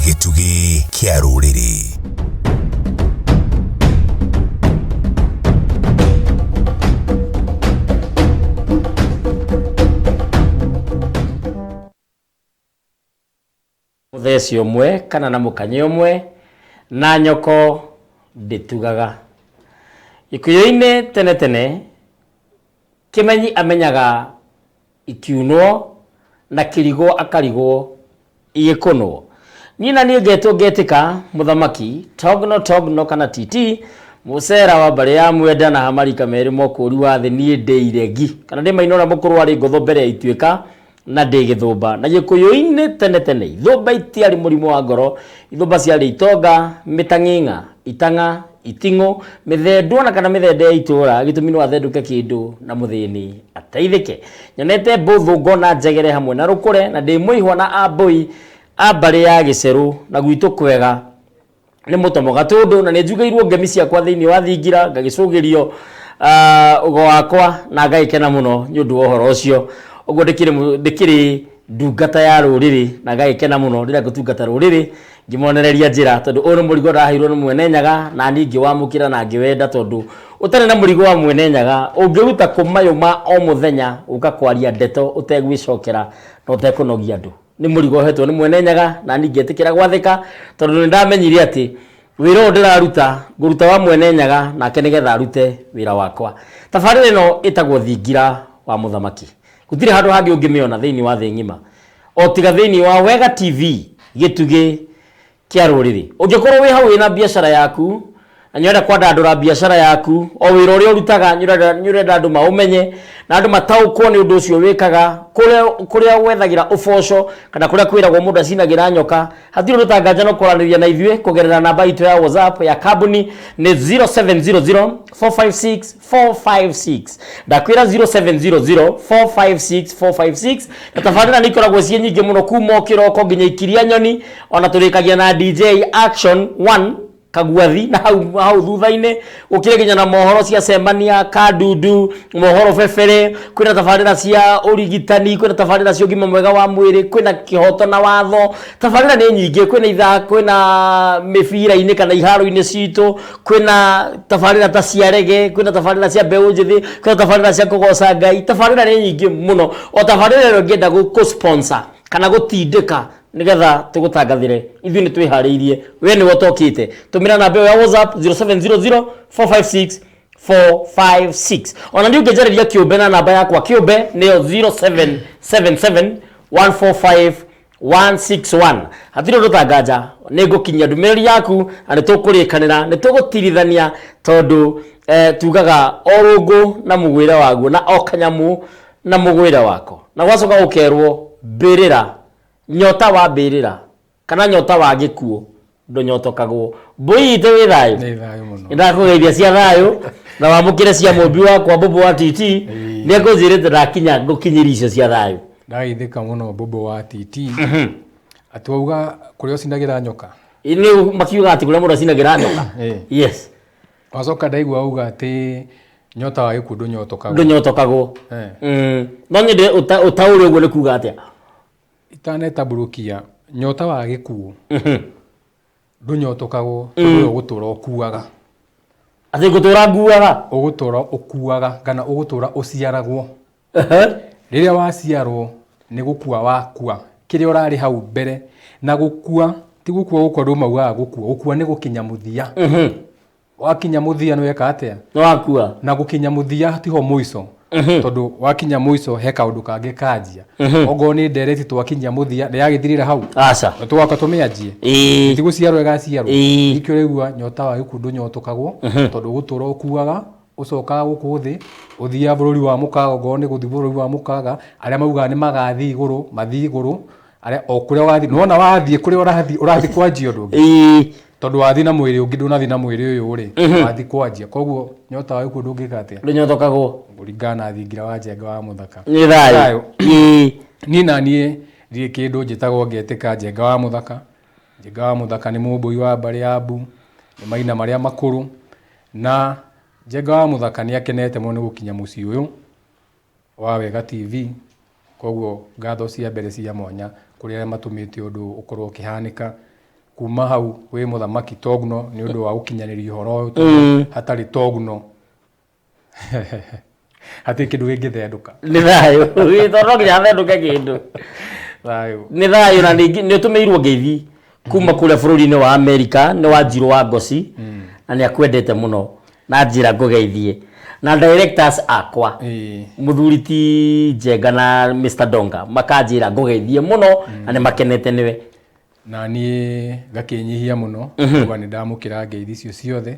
gĩtugĩ kĩa rũrĩrĩ mũtheci ũmwe kana na mũkanye ũmwe na nyoko ndĩtugaga ikuyo-inĩ tene tene kĩmenyi amenyaga Ikiunwo, na kĩrigwo akarigwo. Igĩkũnwo. Niĩ na niĩ ngetwo ngetĩka, mũthamaki, Togno Togno kana TT, Mũcera wa mbarĩ ya Mwenda na Hamarika merĩ mokũũri wa thĩ niĩ ndĩ iregi, kana ndĩ maina ũrĩa mũkũrũ warĩ ngotho mbere ya ituĩka, na ndĩ gĩthũmba. Na Gĩkũyũ-inĩ tene tene ithũmba itiarĩ mũrimũ wa ngoro, ithũmba ciarĩ itonga, mĩtang'ing'a, itang'a, iting'ũ, mĩthendwa na kana mĩthende ya itũra gĩtũmi no athendũke kĩndũ na mũthĩni ateithĩke nyonete mbũthũ ngona njegere hamwe na rũkũre na ndĩ mũihwa na ambũi a mbarĩ ya gĩcerũ na gwitũ kwega nĩ mũtomo gatũndũ na nĩ njugĩirwo ngemi ciakwa thĩinĩ wa thingira ngagĩcũgĩrio ũgo ah, wakwa na ngagĩkena mũno nĩ ũndũ wa ũhoro ũcio ũguo ndĩkĩrĩ ndungata ya rũrĩrĩ na ngagĩkena mũno rĩrĩa ngũtungata rũrĩrĩ ngĩmonereria njĩra tondũ ũyũ nĩ mũrigo ndaheirwo nĩ mwene nyaga na niĩ ngĩwamũkĩra na ngĩwenda tondũ ũtarĩ na mũrigo wa mwene nyaga ũngĩruta kũ mayũ ma o mũthenya gũka kwaria ndeto ũtegwĩcokera na ũtekũnogia andũ nĩ mũrigo ũhetwo nĩ mwene nyaga na niĩ ngetĩkĩra gwathĩka tondũ nĩ ndamenyire atĩ wĩra ũyũ ndĩraruta ngũruta wa mwene nyaga nake nĩgetha arute wĩra wakwa tabarĩra ĩno ĩtagwo thingira wa mũthamaki gũtirĩ handũ hangĩ ũngĩmĩona thĩinĩ wa thĩ ng'ima o tiga thĩinĩ wa wega tv gĩtugĩ kĩa rũrĩrĩ ũngĩkorwo wĩ hau wĩna biacara yaku na nĩũrenda kwandandũra biacara yaku o wĩra ũrĩa ũrutaga nĩũrenda nĩũrenda andũ maũmenye na andũ mataũkwo nĩ ũndũ ũcio wĩkaga kũrĩa kũrĩa wethagĩra ũboco kana kũrĩa kwĩragwo mũndũ acinagĩra nyoka hatirĩ ũtangaja no kwaranĩria na ithuĩ kũgerera namba itũ ya whatsapp ya kambuni nĩ 0700456456 ndakwĩra 0700456456 na tabarĩra nĩ ikoragwo ciĩ nyingĩ mũno kuma o kĩroko nginya ikiria nyoni ona tũrĩkagia na dj action 1 kagwathi na hau hau thutha-inĩ gũkĩrĩ nginya na mohoro cia cemania kandundu mohoro bebere kwĩna tabarĩra cia ũrigitani kwĩna tabarĩra cia ũgima mwega wa mwĩrĩ kwĩna kĩhoto na watho tabarĩra nĩ nyingĩ kwĩna itha kwĩna mĩbira-inĩ kana iharo-inĩ citũ kwĩna tabarĩra ta cia rege kwĩna tabarĩra cia mbeũ njĩthĩ kwĩna tabarĩra cia kũgoca ngai tabarĩra nĩ nyingĩ mũno o tabarĩra ĩyo ngĩenda gũ- gũ-sponsor kana gũtindĩka nigetha tugutangathire ithuĩ nĩ twĩharĩirie we nĩwe ũtokĩte tũmĩra namba ĩyo ya whatsapp 0700456456 ona nĩ ũngĩnjarĩria kĩũmbe na namba yakwa kĩũmbe nĩyo 0777145161 hatirĩ ũndũ tanganja nĩ ngũkinyia ndũmĩrĩri yaku na nĩ tũkũrĩkanĩra nĩ tũgũtirithania tondũ eh, tugaga o rũngũ na mũgwĩre waguo na o kanyamũ na mũgwĩre wako na gwacoka gũkerwo mbĩrĩra Nyota wa mbĩrĩra kana nyota wa gĩkuũ ndũnyotokagwo. Mbũi itũ wĩ thayũ? Nĩ thayũ mũno. Nĩndakũgeithia cia thayũ na wamũkĩre cia mũmbi wakwa Mbũmbũ wa TT. Nĩngũnjĩrĩte ndakinya ngũkinyĩrie icio cia thayũ. Ndageithĩka mũno Mbũmbũ wa TT. Atĩ wauga kũrĩa ũcinagĩra nyoka? Ĩ nĩ makiugaga atĩ kũrĩa mũndũ acinagĩra nyoka? Ĩ. Yes. Wacoka ndaigua auga atĩ nyota wa gĩkuũ ndũnyotokagwo. ndũnyotokagwo Eh. Mm. no nyende ũta- ũtaũre ũguo nĩ kuga atĩa Itanetambũrũkia nyota wa gĩkuũ ndũnyotokagwo tondũ ũyũ ũgũtũra ũkuaga. atĩ ngũtũra nguaga Ũgũtũra ũkuaga kana ũgũtũra ũciaragwo. Rĩrĩa waciarwo nĩ gũkua wakua kĩrĩa ũrarĩ hau mbere na gũkua ti gũkua gũkũ andũ maugaga gũkua gũkua nĩ gũkinya mũthia wakinya mũthia nĩweka atĩa nĩ wakua na gũkinya mũthia tiho mũico tondũ wakinya mũico he kaũndũ kangĩ kanjia ongorwo nĩ ndereti twakinyia mũthia nĩ yagĩthirĩra hau aca na tũgoka tũmĩanjie ĩĩ ti gũciarwo ĩgaciarwo Ĩĩ. nĩkĩo ũraigua nyota wa gĩkuũ ndũnyotokagwo tondũ ũgũtũra ũkuaga ũcokaga gũkũ thĩ, ũthiaga bũrũri wa mũkaga okorwo nĩ gũthiĩ bũrũri wa mũkaga, arĩa maugaga nĩ magathiĩ igũrũ, mathiĩ igũrũ, arĩa o kũrĩa wathiĩ, nĩ wona wathiĩ kũrĩa ũrathiĩ, ũrathiĩ kwanjia ũndũ ũngĩ. Ĩĩ. Tondũ wathiĩ na mwĩrĩ ũngĩ ndũnathiĩ na mwĩrĩ ũyũ rĩ, wathiĩ kwanjia. Koguo nyota wa gĩkuũ ndũngĩka atĩa? Ndũnyotokago. Kũringana na thingira wa njenga wa mũthaka. Nĩ thayũ. Ĩĩ. Niĩ na niĩ ndirĩ kĩndũ njĩtagwo ngetĩka njenga wa mũthaka. Njenga wa mũthaka nĩ mũmbũi wa mbarĩ ya Mbu, nĩ maina marĩa makũrũ. Na Njenga wa Mũthaka nĩ akenete mũno nĩ gũkinya mũciĩ ũyũ wa Wega TV, koguo ngatho cia mbere cia mwanya kũrĩ arĩa matũmĩte ũndũ ũyũ ũkorwo ũkĩhanĩka. Kuma hau wĩ mũthamaki Togno nĩ ũndũ wa gũkinyanĩria ũhoro ũyũ tondũ hatarĩ Togno. hatirĩ kĩndũ kĩngĩthendũka nĩ thayũ Ĩ, tondũ no nginya athendũke kĩndũ thayũ nĩ thayũ na ningĩ nĩ ũtũmĩirwo ngeithi kuma kũrĩa bũrũri-inĩ wa amerika nĩ wa njirũ wa ngoci na nĩ akwendete mũno na njĩra ngũgeithie na directors akwa Ĩĩ. mũthuri ti njenga na mr donga makanjĩra ngũgeithie mũno na nĩ makenete nĩwe na niĩ ngakĩnyihia mũno kuga nĩ ndamũkĩra ngeithi icio ciothe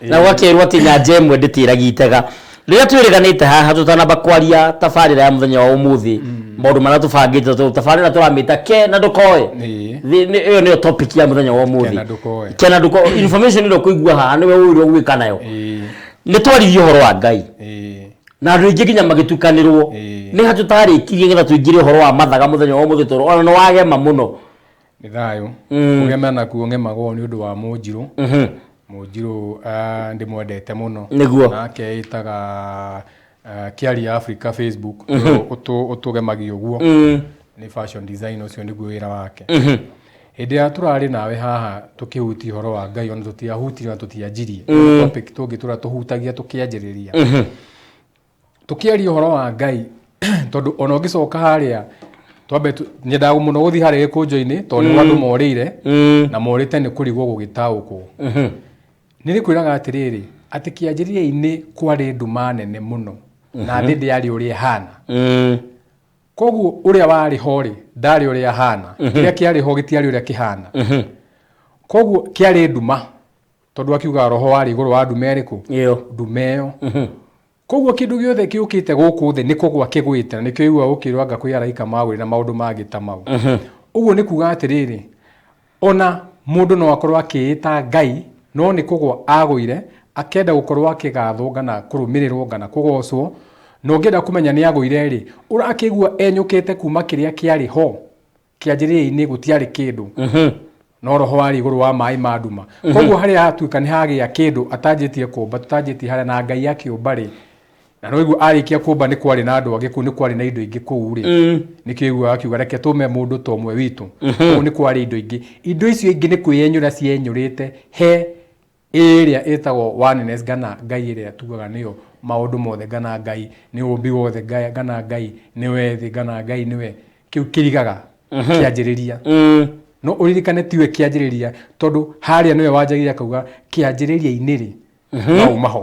na gwakĩrwo atĩ nyanja ĩmwe ndĩtĩragia itega rĩrĩa twĩrĩganĩte haha tũtanamba kwaria tabarĩra ya mũthenya wa ũmũthĩ maũndũ marĩa tũbangĩte tũ- tabarĩra tũramĩta ke na ndũkoe Ĩĩ. Thĩ- nĩ- ĩyo nĩyo topic ya mũthenya wa ũmũthĩ Kena ndũkoe. kena ndũkoe information ĩrĩa ũkũigua haha nĩwe ũĩrwo gwĩka nayo Ĩĩ, nĩ twaririe ũhoro wa ngai ĩĩ, na andå aingä nginya magätukanärwo Ĩĩ. nä hatå tarä kirie getha tå ingä re å horo wa mathaga må thenya wa må thä toro ona nä wagema må no nĩ thayũ kũgema na kuo ngemagwo nĩ ũndũ wa mũnjirũ mũnjirũ ah, ndĩmwendete mũno Nĩguo. nake ĩtaga ah, kiari ya africa facebook ũtũ- ũtũgemagia ũguo nĩ fashion design ũcio nĩguo wĩra wake hĩndĩ ya tũrarĩ nawe haha tũkĩhutia ũhoro wa ngai ona tũtiahutirie ona tũtianjirie Nĩ topic tũngĩ tũra tũhutagia tũkĩanjĩrĩria Tũkĩaria ũhoro wa Ngai, tondũ ona ũngĩcoka harĩa twambe tu- nyendaga mũno gũthiĩ harĩa gĩkũnjũ-inĩ tondũ nĩguo andũ morĩire na morĩte nĩ kũrigwo gũgĩtaũkwo nĩ rĩkwĩraga atĩrĩrĩ atĩ kĩanjĩrĩria-inĩ kwarĩ nduma nene mũno na thĩ ndĩarĩ ũrĩa ĩhana koguo ũrĩa warĩ ho rĩ ndarĩ ũrĩa ahana kĩrĩa kĩarĩ ho gĩtiarĩ ũrĩa kĩhana koguo kĩarĩ nduma tondũ akiuga roho warĩ igũrũ wa ndume ĩrĩkũ ĩyo ndume ĩyo koguo kĩndũ gĩothe kĩũkĩte gũkũ thĩ nĩ kũgwa kĩgwĩte na nĩkĩo igua ũkĩrwo anga kwĩ araika magũrĩ na maũndũ mangĩ ta mau ũguo nĩ kuga atĩrĩrĩ ona mũndũ no akorwo akĩĩta ngai no nĩ kũgwa agũire akenda gũkorwo akĩgathwo ngana kũrũmĩrĩrwo ngana kũgocwo na ũngĩenda kũmenya nĩ agũire rĩ ũrakĩigua enyũkĩte kuma kĩrĩa kĩarĩ ho kĩanjĩrĩria-inĩ gũtiarĩ kĩndũ no roho warĩ igũrũ wa maĩ ma nduma koguo harĩa hatuĩka nĩ hagĩa kĩndũ atanjĩtie kũmba tũtanjĩtie harĩa na ngai akĩũmba rĩ na no iguo arĩkia kũmba nĩ kwarĩ na andũ angĩ kũu nĩ kwarĩ na indo ingĩ kũu rĩ nĩkĩo iguaga akiuga reke tũme mũndũ ta ũmwe witũ kũu nĩ kwarĩ indo ingĩ indo icio ingĩ nĩ kwĩyenyũra cienyũrĩte he Ĩrĩa ĩtagwo oneness ngana Ngai ĩrĩa tugaga nĩyo maũndũ mothe ngana Ngai nĩ ũũmbi wothe ngana Ngai nĩwe thĩ ngana Ngai nĩwe kĩu kĩrigaga kĩanjĩrĩria. No ũririkane tiwe kĩanjĩrĩria tondũ harĩa nĩwe wanjagĩrĩria akauga kĩanjĩrĩria-inĩ rĩ, maũ maho.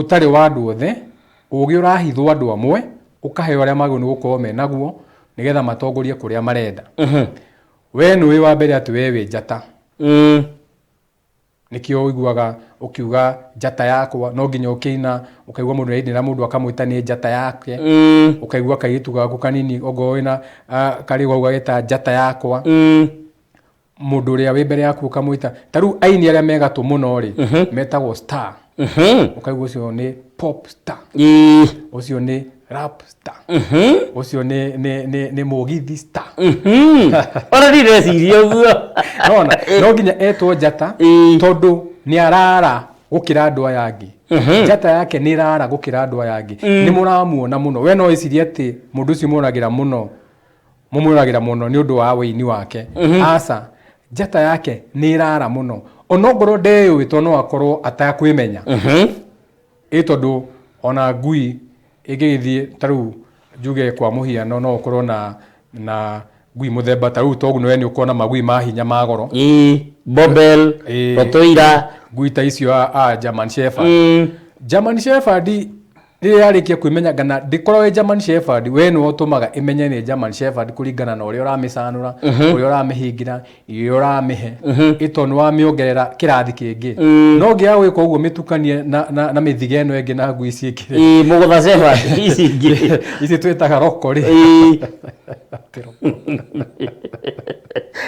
Ũtarĩ wa andũ othe, ũũgĩ ũrahithwo andũ amwe, ũkaheo arĩa magĩrĩirwo nĩ gũkorwo me naguo, nĩgetha matongorie kũrĩa marenda. Wee nĩũĩ wa mbere atĩ wee wĩ njata. Nĩkĩo ũiguaga ũkiuga njata yakwa, no nginya ũkĩina, ũkaigua mũndũ nĩarainĩra mũndũ akamwĩta nĩ njata yake, ũkaigua kairĩtu gaku kanini ongorwo wĩna karĩ ũguo kau gageta njata yakwa. mũndũ ũrĩa wĩ mbere yaku ũkamwĩta ta rĩu aini arĩa me gatũ mũno rĩ metagwo star ũkaigua ũcio nĩ pop star Ĩĩ. ũcio nĩ rap star ũcio nĩ nĩ nĩ nĩ mũgithi star ona ndireciria ũguo nona no nginya etwo njata Ĩĩ. tondũ nĩ arara gũkĩra andũ aya angĩ njata yake nĩ ĩrara gũkĩra andũ aya angĩ nĩ mũramuona mũno we no wĩcirie atĩ mũndũ ũcio moragĩra mũno mũmwĩroragĩra mũno nĩ ũndũ wa wĩini wake aca njata yake nĩ ĩrara mũno onongorwo ndeyũĩ tondũ no akorwo atakwĩmenya ĩ tondũ ona ngui ĩngĩgĩthiĩ ta rĩu njuge kwa mũhiano no ũkorwo na na ngui mũthemba ta rĩu toguo we nĩ ũkorwo na magui ma hinya ma goro ĩ bobel Ĩ. rotoira ngui ta icio a, a German Shepherd German Shepherd Rĩrĩa yarĩkia kwĩmenyanga na ndĩkorwo ĩ German Shepherd, we nĩwe ũtũmaga ĩmenye nĩ German Shepherd kũringana na ũrĩa ũramĩcanũra, ũrĩa ũramĩhingĩra, irio iria ũramĩhe. Ĩ tondũ nĩ wamĩongerera kĩrathi kĩngĩ. No ũngĩaga gwĩka ũguo mĩtukanie na, na, na mĩthiga ĩno ĩngĩ na ngui ici ingĩ rĩ, Ĩĩ, mũgũtha Shepherd ici ingĩ. ici twĩtaga roko rĩ, Ĩĩ.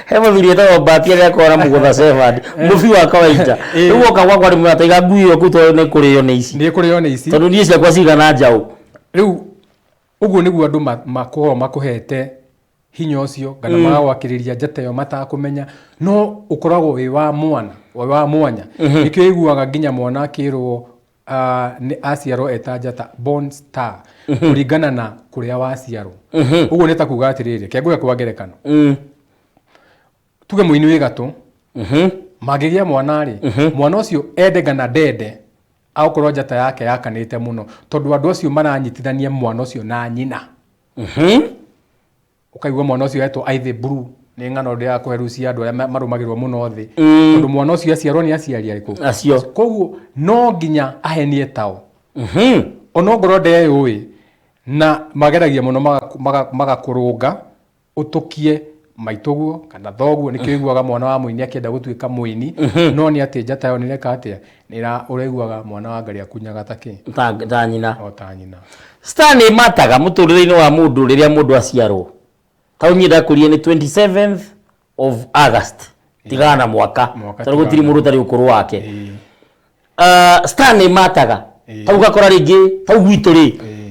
he mũthuri etagwo mbati arĩa akoragwo na mũgũtha sevandi mũbi wa kawaida Eh. rĩu oka gwakwa rĩmwe ataiga ngui ĩyo kuu tondũ nĩ kũrĩo nĩ ici nä kå rä o nä ici tondũ niĩ ciakwa cigana njaũ rä u å guo nä guo andå makoragwo makåhete hinya å cio kana mm. magagwakä rä ria njata ä yo matakå menya no å koragwo wä wa mwana wĩ wa mwanya nä kä o iguaga nginya mwana akä rwo Ah, nĩ aciarwo eta njata born star kũringana na kũrĩa waciarwo ũguo nĩ ta kuga atĩrĩrĩ kengũge kwa ngerekano Mm. tuge mũini wĩ gatũ Mhm. mangĩgĩa mwana rĩ mwana ũcio ende ngana ndende agũkorwo njata yake yakanĩte mũno tondũ andũ acio maranyitithania mwana ũcio na nyina Mhm. ũkaigua mwana ũcio etwo aithĩ buru nĩ ng'ano ndĩaga kũhe rĩu cia andũ arĩa ma- marũmagĩrĩrwo mũno thĩ tondũ mwana ũcio aciarwo nĩ aciari arĩkũ acio koguo no nginya ahenie tao Mhm. onongorwo ndeyũĩ na mageragia mũno magaku- maga- magakũrũnga ũtũkie maitũguo kana thoguo nĩkĩo iguaga mwana wa mũini akĩenda gũtuĩka mũini no nĩ atĩ njata yo nĩreka atĩa Nĩra ũraiguaga mwana wa ngarĩ akunyaga ta kĩ? Ta, ta nyina. O ta nyina. Star nĩ mataga mũtũrĩre-inĩ wa mũndũ rĩrĩa mũndũ aciarwo. Ta ũnyie ndakũrie nĩ 27th of August. Tigaga na mwaka. Mwaka Tondũ gũtirĩ tigaga na mũndũ ũtarĩ ũkũrũ wake. Ĩĩ. Ah, star nĩ mataga. Ĩĩ. Ta ũgakora rĩngĩ, ta u gwitũ rĩ, Ĩĩ.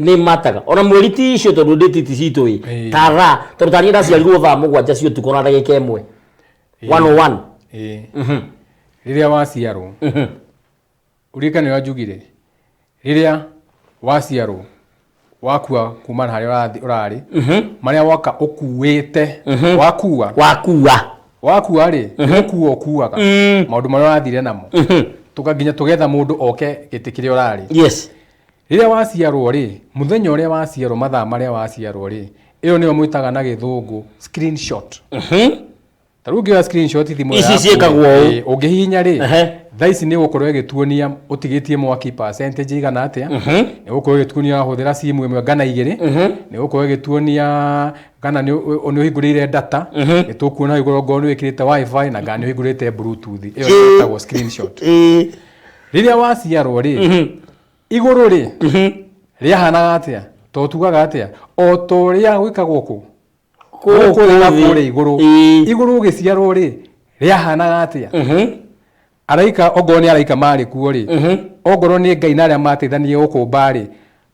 nä mataga ona mweri ti icio tondå ndä titi citå ä Ĩĩ. tara tondå taniä ndaciarirwo thaa må gwanja cio tukå na ndagä ka ä mwe Ĩĩ. rĩrĩa waciarwo ũririkane ũrĩa njugire rĩrĩa waciarwo wakua kuma na harĩa ũrathi- ũrarĩ marĩa woka ũkuĩte wakua wakua wakua rĩ ũkua ũkuaga maũndũ marĩa ũrathire namo tũka nginya tũgetha mũndũ oke gĩtĩ kĩrĩa ũrarĩ yes Rĩrĩa waciarũo-rĩ, mũthenya ũrĩa waciarũo, mathaa marĩa waciarũo-rĩ, ĩyo nĩyo mwĩtaga na gĩthũngũ screenshot. Ta rĩu ũngĩoya screenshot thimũ ĩyo Ici yaku-rĩ, ciĩkagwo ũũ. ĩĩ, ũngĩhihinya-rĩ, Ehe. thaa ici nĩ ĩgũkorwo ĩgĩtuonia ũtigĩtie mwaki percentage ĩigana atĩa, nĩ ĩgũkorwo ĩgĩtuonia wahũthĩra simu ĩmwe gana igĩrĩ, nĩ ĩgũkorwo ĩgĩtuonia kana nĩ ũ- nĩ ũhingũrĩire data, nĩ tũkuona hau igũrũ okorwo nĩ wĩkĩrĩte wifi na kana nĩ ũhingũrĩte bluetooth. Ĩyo nĩyo ĩtagwo screenshot. Ĩĩ. rĩrĩa waciarwo rĩ igũrũ rĩ rĩahanaga atĩa to tugaga atĩa o ta ũrĩa gwĩkagwo kũ gũkũ thĩ na kũrĩa igũrũ Ĩĩ. igũrũ ũgĩciarwo rĩ rĩahanaga atĩa Mhm. araika ongorwo nĩ araika marĩ kuo rĩ ongorwo nĩ ngai na arĩa mateithanirie gũkũmba rĩ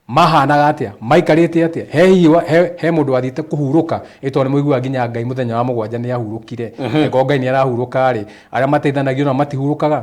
mahanaga atĩa maikarĩte atĩa he hihi wa- he- he mũndũ wathiĩte kũhurũka ĩ tondũ nĩ mũiguaga nginya ngai mũthenya wa mũgwanja nĩ ahurũkire ĩko ngai nĩ arahurũka rĩ arĩa mateithanagio nao matihurũkaga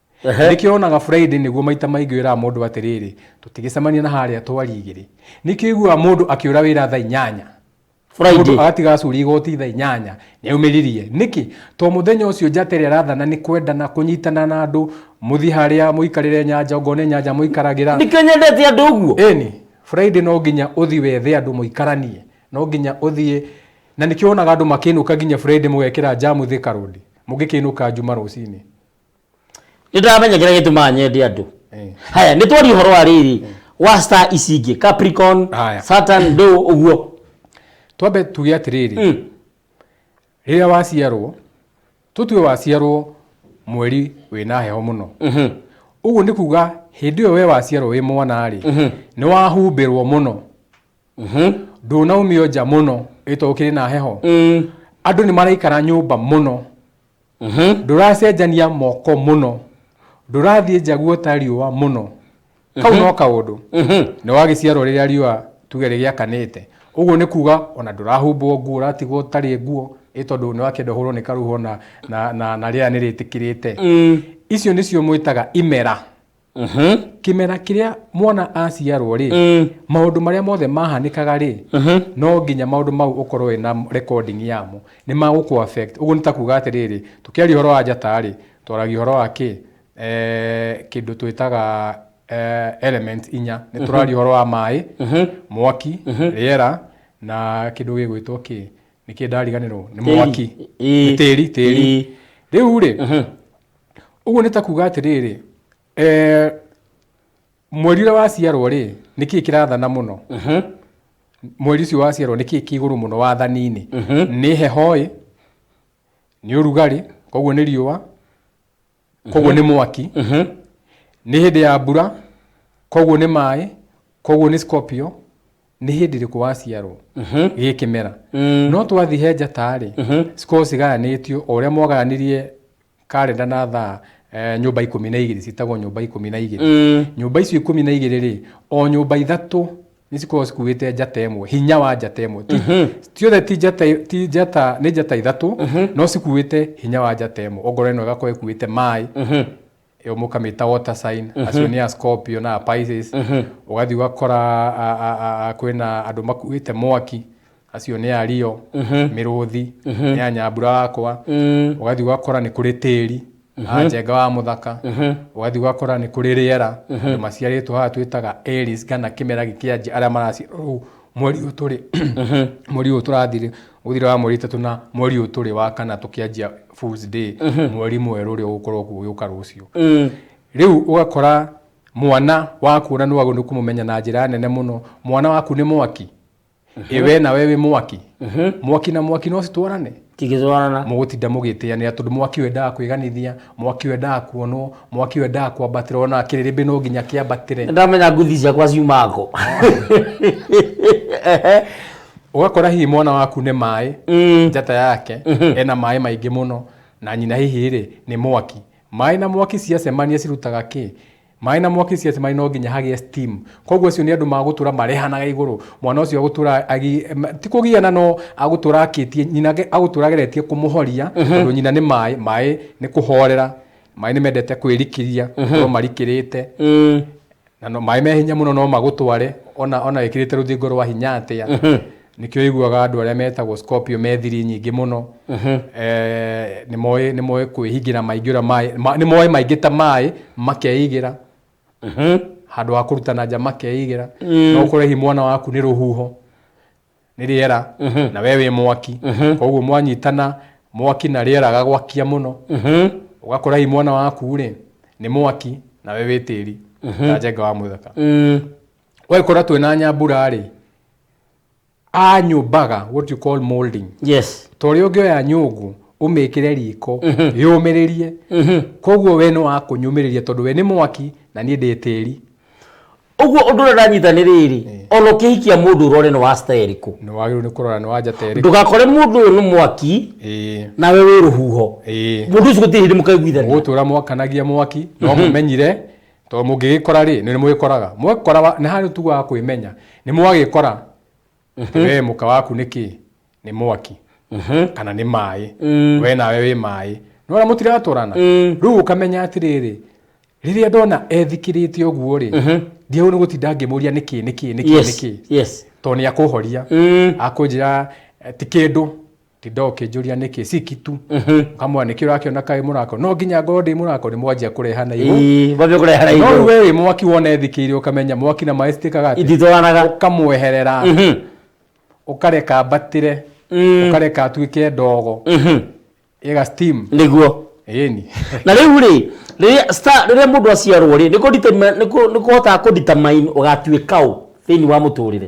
nĩkĩo wonaga friday nĩguo maita maingĩ wĩraga mũndũ atĩrĩrĩ tũtigĩcemania na harĩa twarigĩrĩ nĩkĩo iguaga mũndũ akĩũra wĩra thaa inyanya Friday. Mũndũ agatiga acuri igoti thaa inyanya nĩaumĩririe nĩkĩ to mũthenya ũcio njata ĩrĩa ĩrathana nĩ kwendana kũnyitana na andũ mũthiĩ harĩa mũikarĩre nyanja ngo nĩ nyanja mũikaragĩra nĩkĩo nyendete andũ ũguo ĩni friday no nginya ũthiĩ wethe andũ mũikaranie no nginya ũthiĩ na nĩkĩo wonaga andũ makĩinũka nginya friday mũgekĩra njamu thika road mũngĩkĩinũka njuma rũcinĩ nä ndäramenya kä rä a gä tåmaga nyende andå Eh. haya nä twaria å horo wa rä rä wa star ici ingä capricorn Haya. saturn ndå å guo twambe tuge atĩrĩrĩ Mm. rĩrĩa waciarwo tũtue waciarwo mweri wĩna heho mũno Mhm. ũguo nĩ kuga hĩndĩ ĩyo we waciarwo wĩ mwana-rĩ nĩ wahumbĩrwo mũno Mhm. ndũnaumio nja mũno ĩto ũkĩrĩ na heho Mm. andũ nĩ maraikara nyũmba mũno Ndũracenjania moko mũno. Ndũrathiĩ njaguo ta riũa mũno. Kau no kaũndũ. Nĩ wagĩciarwo rĩrĩa riũa tuge rĩgĩakanĩte. Ũguo nĩ kuga ona ndũrahumbwo nguo ũratigwo ũtarĩ nguo ĩ tondũ nĩ wakĩenda ũhũrwo nĩ karũhuho na rĩera nĩ rĩtĩkĩrĩte. Icio nĩcio mwĩtaga imera. kĩmera kĩrĩa mwana aciarwo rĩ maũndũ marĩa mothe mahanĩkaga rĩ no nginya maũndũ mau ũkorwo wĩ na recording yamo nĩ magũkũ affect ũguo nĩ ta kuga atĩrĩrĩ tũkĩaria ũhoro wa njata rĩ twaragia ũhoro wa kĩ kĩndũ twĩtaga element inya nĩ tũraria ũhoro wa maĩ mwaki rĩera na kĩndũ gĩgwĩtwo kĩ nĩkĩ ndariganĩrwo nĩ mwaki nĩ tĩri tĩri rĩu rĩ Ũguo nĩ ta kuuga atĩrĩrĩ, eh, mweri ũrĩa waciarwo rĩ nĩ kĩĩ kĩrathana mũno mweri ũcio waciarwo nĩ kĩĩ kĩ igũrũ mũno wathani-inĩ nĩ heho ĩ nĩ ũrugarĩ koguo nĩ riũa koguo nĩ mwaki nĩ hĩndĩ ya mbura koguo nĩ maĩ koguo nĩ scorpio nĩ hĩndĩ ĩrĩkũ waciarwo gĩ kĩmera no twathi he njata-rĩ cikoragwo cigayanĩtio o ũrĩa mwagayanĩrie karenda na thaa eh, nyũmba ikũmi na igĩrĩ citagwo nyũmba ikũmi na igĩrĩ nyũmba icio ikũmi na igĩrĩ rĩ o nyũmba ithatũ nĩ cikoragwo cikuĩte njata ĩmwe hinya wa njata ĩmwe Ti- ciothe ti njata ti njata nĩ njata ithatũ no cikuĩte hinya wa njata ĩmwe ongorwo ĩno ĩgakorwo ĩkuĩte maĩ ĩyo mũkamĩta water sign mm -hmm. acio nĩ a scorpio na a pisces mm -hmm. ũgathiĩ ũgakora a- a- a- a- kwĩna andũ makuĩte mwaki acio nĩ a rio mm -hmm. mĩrũthi mm -hmm. nĩ a nyambura wakwa mm. ũgathiĩ ũgakora nĩ kũrĩ tĩri mm -hmm. njenga wa mũthaka mm -hmm. ũgathiĩ ũgakora nĩ kũrĩ rĩera mm -hmm. andũ maciarĩtwo haha twĩtaga Aries kana kĩmera gĩkĩanjia arĩa maraciarwo rĩu mweri ũyũ tũrĩ mweri ũyũ tũrathirĩ gũthira wa mweri itatũ na mweri ũyũ tũrĩ wa kana tũkĩanjia Fools Day, mweri mwerũ ũrĩa ũgũkorwo kũgĩũka rũciũ. Rĩu ũgakora mwana waku na nĩwagĩrĩirwo nĩ kũmũmenya na njĩra nene mũno, mwana waku nĩ mwaki, ĩ we nawe wĩ mwaki, mwaki na mwaki no citwarane? Tigĩtwarana. mũgũtinda mũgĩtĩanĩra tondũ mwaki ũyũ endaga kwĩganithia, mwaki ũyũ endaga kuonwo, mwaki ũyũ endaga kwambatĩra ona kĩrĩrĩmbĩ no nginya kĩambatĩre. Nĩndamenya ngũthi ciakwa ciumaga kũ. Ehe. ũgakora hihi mwana waku nĩ maĩ njata yake ena maĩ maingĩ mũno na nyina hihi rĩ nĩ mwaki maĩ na mwaki ciacemania cirutaga kĩ maĩ na mwaki ciacemania no nginya hagĩe steam koguo acio nĩ andũ magũtũra marehanaga igũrũ mwana ũcio agũtũra agi- ma- ti kũgiana no agũtũra akĩtie nyina age- agũtũra ageretie kũmũhoria tondũ nyina nĩ maĩ maĩ nĩ kũhorera maĩ nĩ mendete kwĩrikĩria gũkorwo marikĩrĩte na no maĩ me hinya mũno no magũtware ona ona wĩkĩrĩte rũthingo rwa hinya atĩa nĩkĩo iguaga andũ arĩa metagwo scorpio me thiri nyingĩ mũno Eh, nĩ moĩ nĩ moĩ kwĩhingĩra maingĩra maĩ ma- nĩ moĩ maingĩ ta maĩ makeigĩra handå wa kå rutana nja makeigä ra no kå rehi mwana waku nä rå huho nĩ rĩera na we wĩ mwaki koguo mwanyitana mwaki na rĩera agagwakia mũno ũgakora hihi mwana waku rĩ nĩ mwaki na we wĩ tĩri na njenga wa mũthaka ũgagĩkora twĩ na nyambura rĩ anyũmbaga what you call molding yes ta ũrĩa ũngĩoya nyũngũ ũmĩkĩre riko yũmĩrĩrie koguo we nĩ wa kũnyũmĩrĩria tondũ we nĩ mwaki na niĩ ndĩ tĩri ũguo ũndũ ũrĩa ũranyita nĩ rĩrĩ ona ũkĩhikia mũndũ ũrore nĩ wa cita ĩrĩkũ nĩ wagĩrĩirwo nĩ kũrora nĩ wanja ta ĩrĩkũ ndũgakore mũndũ ũyũ nĩ mwaki Ĩĩ, nawe wĩ rũhuho ĩĩ. mũndũ ũcio gũtirĩ hĩndĩ mũkaiguithania gũtũra mwakanagia mwaki no mũmenyire tondũ mũngĩgĩkora rĩ nĩ mũgĩkoraga mwekora nĩ harĩ tugaga kwĩmenya nĩ mwagĩkora we mũka waku nĩ kĩ nĩ mwaki kana nĩ maĩ we nawe wĩ maĩ nona mũtiratwarana rĩu ũkamenya atĩrĩrĩ rĩrĩa ndona ethikĩrĩte ũguo rĩ ndiagũ nĩ gũtinda ngĩmũria nĩ kĩ nĩ kĩ nĩ kĩ nĩ yes kĩ yes tondũ nĩ akũhoria Mm. akũnjĩra eh, ti kĩndũ tinda ũkĩnjũria nĩkĩ ciki tu kamwa nĩkĩ ũrakĩona kaĩ mũrako no nginya ngorwo ndĩ mũrako nĩ mwanjia kũreha na igũ Ii, mwambie kũrehera no igũrũ rĩu wĩ mwaki wona ethikĩire ũkamenya mwaki na maĩ citĩkaga atĩ ititwaranaga ũkamweherera Mhm. ũkareka mbatĩre Mm. ũkareka atuĩke ndogo Mhm. ĩga steam nĩguo ĩni na rĩu rĩ rĩrĩa star- rĩrĩa mũndũ aciarwo rĩ nĩ kũ determine- nĩ kũ- nĩ kũhotaga kũdetermine ũgatuĩka ũ thĩinĩ wa mũtũrĩre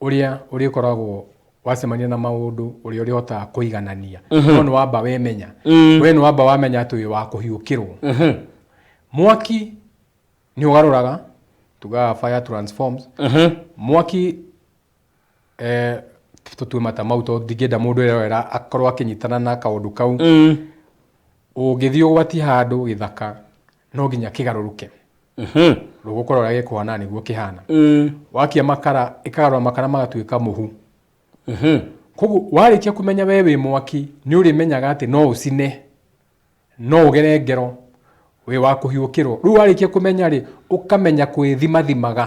ũrĩa ũrĩkoragwo wacemania na maũndũ ũrĩa ũrĩhotaga kũiganania no nĩ wamba wemenya we nĩ wamba wamenya atĩ wĩ wa kũhiũkĩrwo mwaki nĩ ũgarũraga tugaga fire transforms mwaki eh, tũtue mata mau tondũ ndingĩenda mũndũ erorera akorwo akĩnyitana na kaũndũ kau ũngĩthiĩ ũgwatie handũ gĩthaka no nginya kĩgarũrũke rũgũkora ũrĩa gĩkũhana nĩguo kĩhana wakia makara ĩkagarũra makara magatuĩka mũhu koguo warĩkia kũmenya we wĩ mwaki nĩ ũrĩmenyaga atĩ no ũcine no ũgere ngero wĩ wa kũhiũkĩrwo rĩu warĩkia kũmenya rĩ ũkamenya kwĩthimathimaga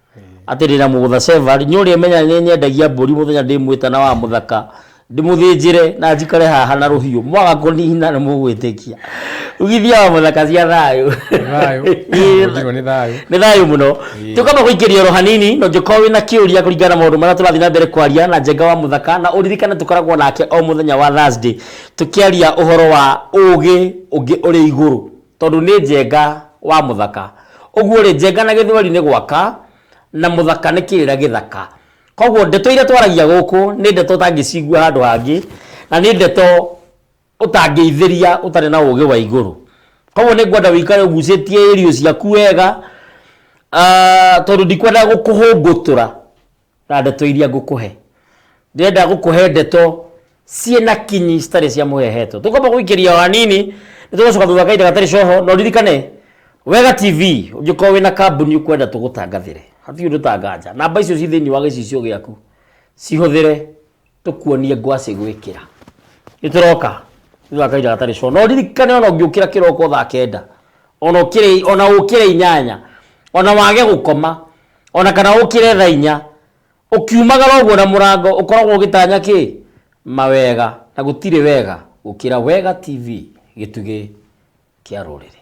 atĩrĩra mũgũtha Sevari, nyũrĩa menya nĩ nyendagia mbũri mũthenya ndĩmwĩta na wa mũthaka ndĩmũthĩnjĩre na njikare haha na rũhiũ mwaga kũnihina nĩ mũgwĩtĩkia ugithia wa mũthaka cia thayũ Thayũ. Ĩĩ, Ũnjigwo nĩ thayũ. nĩ thayũ mũno tũkamba gũikĩria oro hanini no njũkorwo wĩ na kĩũria kũringana na maũndũ marĩa tũrathiĩ na mbere kwaria na njenga wa mũthaka na ũririkane tũkoragwo nake o mũthenya wa Thursday tũkĩaria ũhoro wa ũũgĩ ũngĩ ũrĩ igũrũ Tondũ nĩ Njenga wa mũthaka. Ũguo-rĩ, Njenga na Gĩthweri nĩ gwaka, na mũthaka nĩ kĩrĩra gĩthaka. Koguo ndeto iria twaragia gũkũ nĩ ndeto ũtangĩcigua handũ hangĩ, na nĩ ndeto ũtangĩithĩria ũtarĩ na ũgĩ wa igũrũ. Koguo nĩ ngwenda ũikare ũgucĩtie ĩriũ ciaku wega, tondũ ndikwenda gũkũhũngũtũra. Na ndeto iria ngũkũhe. Ndĩrenda gũkũhe ndeto ciĩ na kinyi citarĩ cia mũhehetwo. Tũkwamba gũikĩria o hanini, nĩ tũgũcoka thutha wa kahinda gatarĩ coho, na ũririkane, Wega TV, ũngĩkorwo wĩna kambuni ũkwenda tũgũtangathĩre, hatirĩ ũndũ ta nganja, namba icio ciĩ thĩinĩ wa gĩcicio gĩaku, cihũthĩre, tũkuonie ngwacĩ gwĩkĩra nĩ tũroka thutha wa kahinda gatarĩ coro no ririkane ona ũngĩũkĩra kĩroko thaa kenda ona ũkĩre ona ũkĩre inyanya ona wage gũkoma ona kana ũkĩre thaa inya ũkiumagara ũguo na mũrango ũkoragwo ũgĩtanya kĩ mawega na gũtirĩ wega gũkĩra wega tv gĩtugĩ kĩa rũrĩrĩ